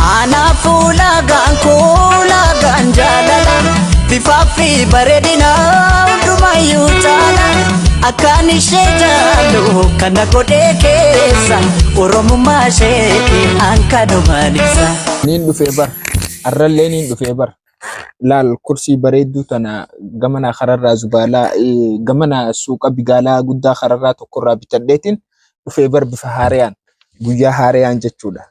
Anaaf ulaagaan kuulaagaan jaalala bifaa fi bareedina hundumayyuu caala akkaan ishee jaalu kana godhee keessa oromummaa isheetti hankanumaan ibsa. Niin dhufee bar. Arrallee niin dhufee bar. Laal kursii bareedduu tana gamanaa kararraa zubaalaa eh, gamanaa suuqa bigaalaa guddaa kararraa tokkorraa bitadheetiin dhufee bar bifa haarayaan. guyyaa haarayaan jechuudha.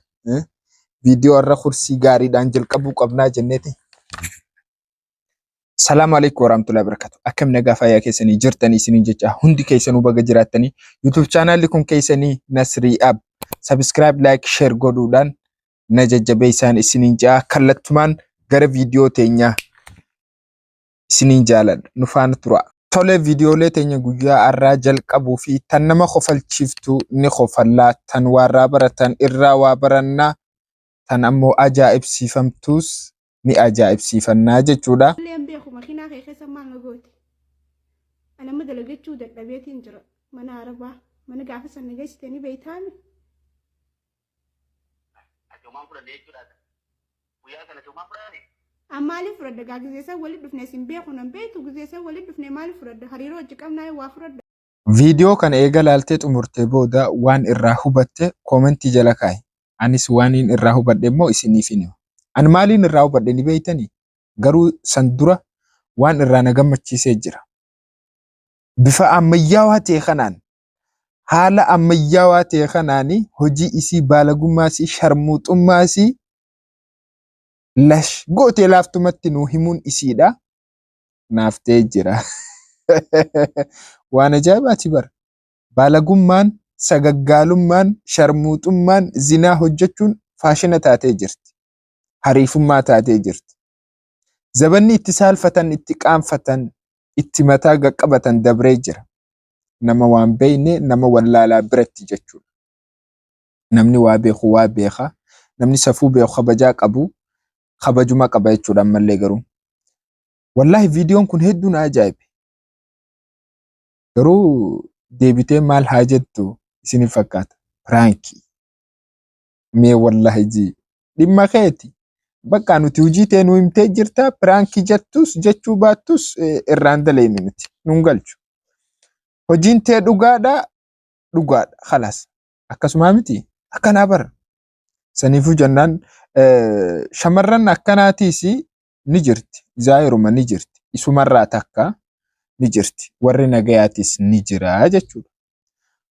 Viidiyoo har'a kursii gaariidhaan jalqabuu qabnaa jenneeti. Salaamu alaikum warahmatullahi wabarakatuh. Akkam nagaa fayyaa keessanii jirtanii isiniin jecha hundi keessanuu baga jiraattanii YouTube chaanaalli kun keessanii Nasrii Ab. Subscribe, like, share godhuudhaan na jajjabeessaan isiniin ja'a kallattumaan gara viidiyoo teenyaa isiniin jaaladha nu faana turaa. Tole viidiyoolee teenya guyyaa har'aa jalqabuu fi tan nama kofalchiiftu ni kofallaa, tan waarraa baratan irraa waa barannaa, tan ammoo ajaa'ibsiifamtuus ni ajaa'ibsiifannaa jechuudha. Illee hin beeku makiinaa kee keessa maal na goote. Ani amma dalagachuu dadhabeetiin jira mana arabaa. Mana gaafa san na geessite ni beeytaami. Homaan fudhanne jechuudha. Guyyaa sana homaa fudhanne. An maaliif fudhadha gaa gizeessan walitti dhufne isin beeku nan beektu gizeessan walitti dhufne maaliif fudhadha hariiroo hojii qabnaa waa fudhadha. Viidiyoo kana eega laaltee xumurtee booda waan irraa hubatte koomentii jala kaa'i. Anis waaniin irraa hubadhe immoo isiniifin hima. An maaliin irraa hubadhe ni beektanii? Garuu san dura waan irraa na gammachiisee jira. Bifa ammayyaawaa ta'e kanaan haala ammayyaawaa ta'e kanaan hojii isii baalagummaa isii sharmuuxummaa isii lash gootee laaftumatti nuu himuun isiidha naaf ta'ee jira. Waan ajaa'ibaati bara. Baalagummaan, sagaggaalummaan, sharmuuxummaan, zinaa hojjechuun faashina taatee jirti. Hariifummaa taatee jirti. Zabanni itti saalfatan, itti qaanfatan, itti mataa gaqqabatan dabree jira. nama waan beeyne nama wallaalaa biratti jechuudha. Namni waa beeku waa beeka. Namni safuu beeku kabajaa qabu kabajuma qaba jechuudha ammallee garuu. Wallaahi viidiyoon kun hedduu na ajaa'ibe. Garuu deebitee maal haa jettu isiniif fakkaata? Piraankii. mee wallahi ji dhimma keeti bakka nuti hujii tee nu himtee jirta piraanki jettus jechuu baattus eh, irraan daleynu nuti nun galchu hojiin tee dhugaadha dhugaadha kalaas akkasumaa miti akkanaa bara saniifuu jennaan eh, shamarran akkanaatiis ni jirti, Zaahiruman ni jirti, isumarraa takka ni jirti, warri nagayaatis ni jira jechuudha.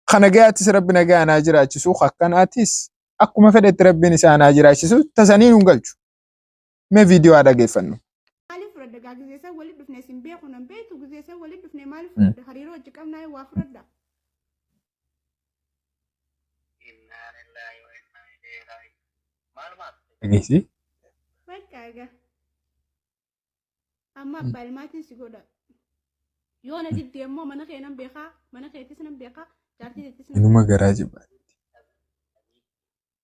Ka nagayaatis Rabbi nagayaan haa jiraachisu, ka akkanaatis akkuma fedhetti Rabbiin isaan haa jiraachisu, tasanii nun galchu. Mee viidiyoo haa dhageeffannu. Maaliif fudhadda gaa gizee san walitti dhufne sin beeku nan beektu gizee san walitti dhufne maaliif fudhadda hariiroo wajji qabnaa waa fudhadda. Dhageessi. Bakka egaa. Amma abbaa ilmaatiin si godha. Yoo na didde immoo mana kee nan beekaa, mana keetis nan beekaa, jaartii keetis nan Inuma garaa jibba.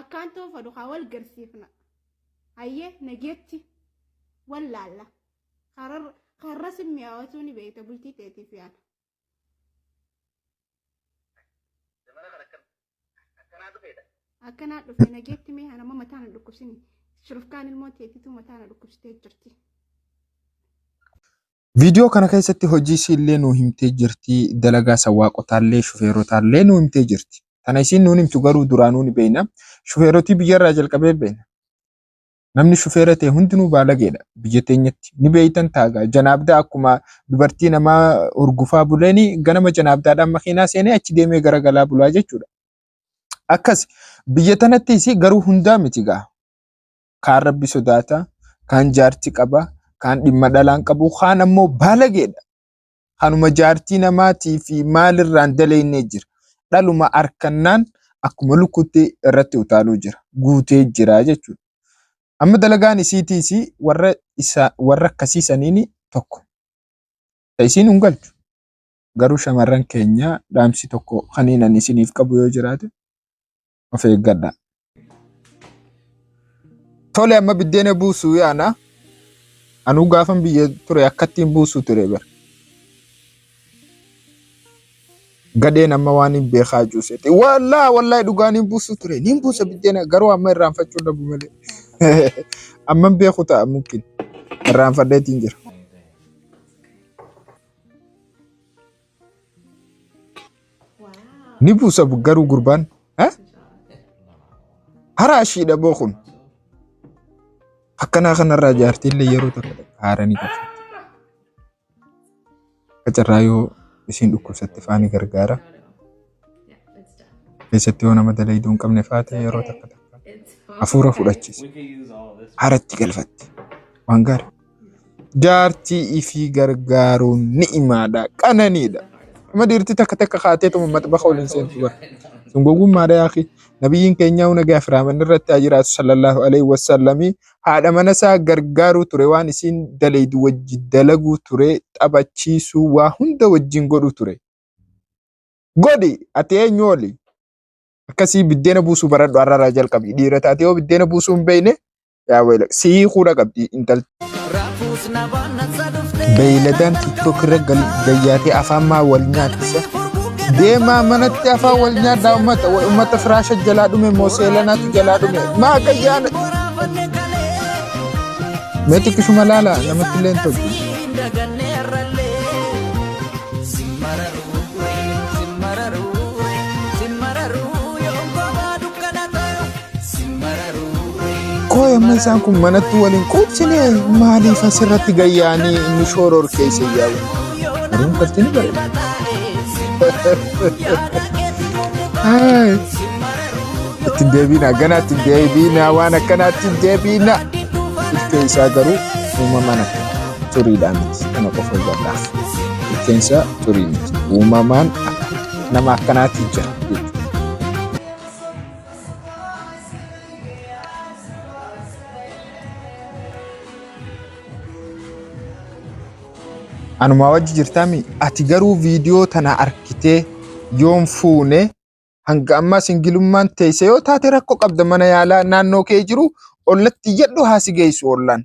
Akkaan toofa dukaa wal garsiifna. Hayyee nageetti wal laalla. Karar- Karra sin mi'aawatuu ni beekta bultii teetiif yaana. Zamana kana akkam akkanaa dhufeedha. Akkanaa dhufe nageetti mee hanama mataa na dhukkubsini. Shurufkaan ilmoo teetitu mataa na dhukkubsitee jirti. Viidiyoo kana keessatti hojii isiillee nuu himtee jirti. Dalagaa san waaqotaallee shufeerotaallee nuu himtee jirti. Tana isiin nuun himtu garuu duraanuu ni beeyna. Shufeerotii biyyarraa jalqabee beeyna. Namni shufeera ta'e hundinuu baalageedha biyya teenyatti. Ni beeytan taagaa janaabdaa akkuma dubartii namaa urgufaa buleeni ganama janaabdaadhaan makiinaa seenee achi deemee gara galaa bulaa jechuudha. Akkas biyya tanatti isii garuu hundaa miti gaa. kaan rabbi sodaata, kaan jaarti qaba, kaan dhimma dhalaan qabu, kaan ammoo baalageedha. Kanuma jaartii namaatii fi maalirraan daleeynee jira. Dhaluma arkannaan akkuma lukkuutti irratti utaaluu jira. Guutee jira jechuudha. Amma dalagaan isiitiis warra, isa, warra akkasii saniin tokko. Ta isiin hin galchu. Garuu shamarran keenya dhaamsi tokko kaniinan isiniif qabu yoo jiraate of eeggadha. Tole amma biddeena buusuu yaana. Anuu gaafan biyya ture akkattiin buusuu ture bira. Gadheen amma waan hin beekaa cuuseeti. Wallaa wallaa dhugaa niin buusuu ture. Niin buusa biddeena garuu amma irraanfachuu dhabu malee. Amma hin beeku ta'a mukkin. Irraanfadheetiin jira. Ni buusa garuu gurbaan. Eh? Haraa ishiidha boo kun. Akkanaa kanarraa jaartiillee yeroo tokko tokko haara ni galfatti. Akka carraa yoo isiin dhukkubsatte faani gargaara. Keessatti yoo nama dalayduu hin qabne faate yeroo takka takka hafuura fudhachiisa. Haaratti galfatti. Waan gaarii. Jaartii ifii gargaaruun ni'imaadha, qananiidha. Amma dhiirti takka takka kaateetuma maxbaxa ol hin seentu bara. Sun gowwummaadha yaakii. Nabiyyiin keenyaa nagaa fi raamanni irratti haa jiraatu sallallahu alaihi wasallamii haadha mana isaa gargaaruu ture waan isiin dalaydu wajji dalaguu ture taphachiisuu waa hunda wajjin godhuu ture. Godhi ati eenyu oli akkasii biddeena buusuu baradhu har'arraa jalqabi dhiira taate yoo biddeena buusuu hin beekne Yaa wayila si hiikuudha qabdi intalti. Beeyladaan tiktok irra gal- gayyaatee afaan maa wal nyaachisa. Deemaa manatti afaan wal nyaadhaa ummata wa- ummata firaasha jalaa dhume moo seelanaatu jalaa dhume maa gayyaana. Mee xiqqishuma laala namatti illee hin toltu. Koo amma isaan kun manatti waliin quubsine maaliif asirratti gayyaanii inni shooror keessa yaa'u? Garuu kalti ni bareeda. Itti hin deebiina ganaa itti hin deebiina waan akkanaa itti hin deebiina. Ilkee isaa garuu uumamaan akka xuriidhaa miti kana qofa hubadhaaf. Ilkeen isaa xurii miti uumamaan akka nama akkanaatti jira. anumaa wajji jirtaami ati garuu viidiyoo tana arkitee yoon fuune hanga ammaa singilummaan teeyse yoo taate rakkoo qabda mana yaalaa naannoo kee jiru ollatti iyyadhu haa si geessu ollaan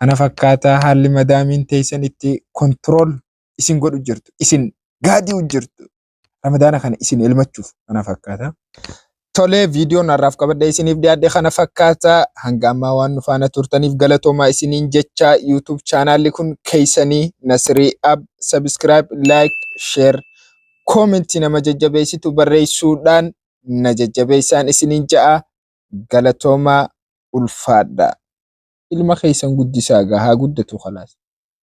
kana fakkaataa haalli madaamiin teessan itti kontirool isin godhu jirtu isin gaadi'u jirtu ramadaana kana isin elmachuuf kana fakkaataa. Tolee viidiyoon har'aaf qabadhee isiniif dhiyaadhe kana fakkaataa hanga ammaa waan nu faana turtaniif galatoomaa isiniin jechaa yuutuub chaanaalli kun keessanii Nasirii Ab sabiskiraayib laayik sheer koomentii nama jajjabeessitu barreessuudhaan na jajjabeessaan isiniin ja'a Galatoomaa ulfaadhaa. Ilma keessan guddisaa gaa haa guddatu kalaas.